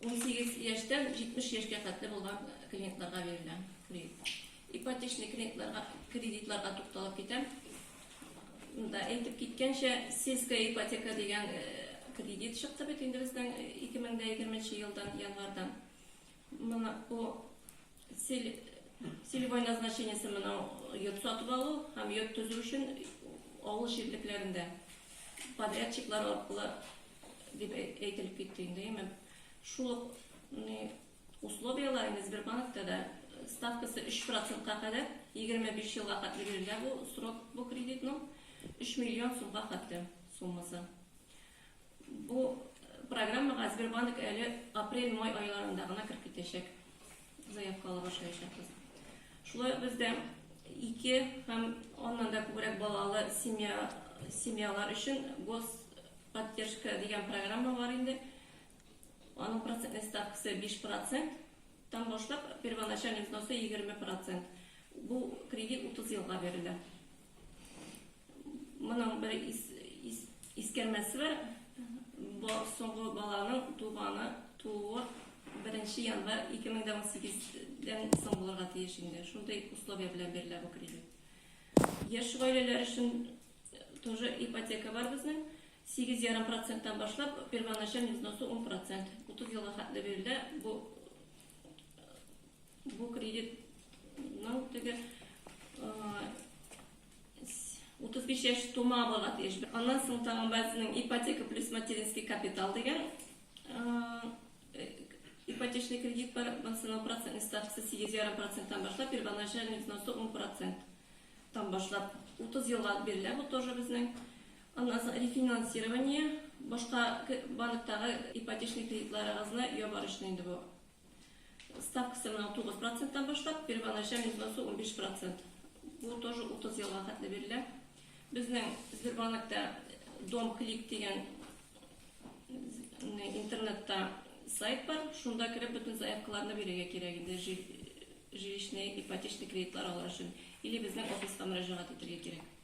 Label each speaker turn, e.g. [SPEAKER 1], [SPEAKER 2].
[SPEAKER 1] Унсигез яшьтән җитмеш яшькә хәтле булган клиентларга бирелә кредитлар. Ипотечный кредитларга кредитларга тукталып китәм. Монда әйтеп киткәнчә, сельская ипотека дигән кредит чыкты бит инде безнең 2020 елдан январьдан. Моны бу Целевой назначениесе мынау йорт сатып алу һәм йорт төзү өчен авыл җирлекләрендә подрядчиклар аркылы дип әйтелеп китте инде. Әмма шул ук условияләр инде Сбербанкта да ставкасы 3%-ка кадәр 25 елга хәтле бирелә бу срок бу кредитның 3 миллион сумга хәтле суммасы. Бу программага Сбербанк әле апрель-май айларында гына кереп китәчәк. Заявкалар ошаячакбыз. Шулай ук бездә ике һәм аннан да күбрәк балалы семья, семьялар өчен гос поддержка дигән программа бар инде. Аның процентный ставкасы 5%. Там башлап первоначальный взносы 20%. Бу кредит 30 елга бирелә. Моның бер ис, ис, искәрмәсе бар. Бо, соңгы баланың туганы тууы 1 январь 2018-дән соң булырга тиеш инде. Шундый условия белән бирелә бу кредит. Яшь гаиләләр өчен тоже ипотека бар безнең. 8,5%-тан башлап, первоначальный взносы 10%. 30 елга хәтле бирелә. Бу Бу кредитның теге 35 яшь тума бала тиеш. Аннан соң тагын безнең ипотека плюс материнский капитал дигән ипотечный кредит бар. Монысының процентный ставкасы 8,5%-тан башлап, первоначальный взносы 10%-тан башлап 30 елга бирелә. Бу тоже безнең. Аннан соң рефинансирование, башка банктагы ипотечный кредитларыгызны ябар өчен инде бу. Ставкасы менә 9 проценттан башлап, первоначальный взносы 15 процент. Бу тоже 30 елга хәтле бирелә. Безнең Сбербанкта Дом Клик дигән интернетта сайт бар, шунда кереп бөтен заявкаларны бирергә кирәк инде жилищный ипотечный кредитлар алыр өчен или безнең офиска мөрәҗәгать итәргә кирәк.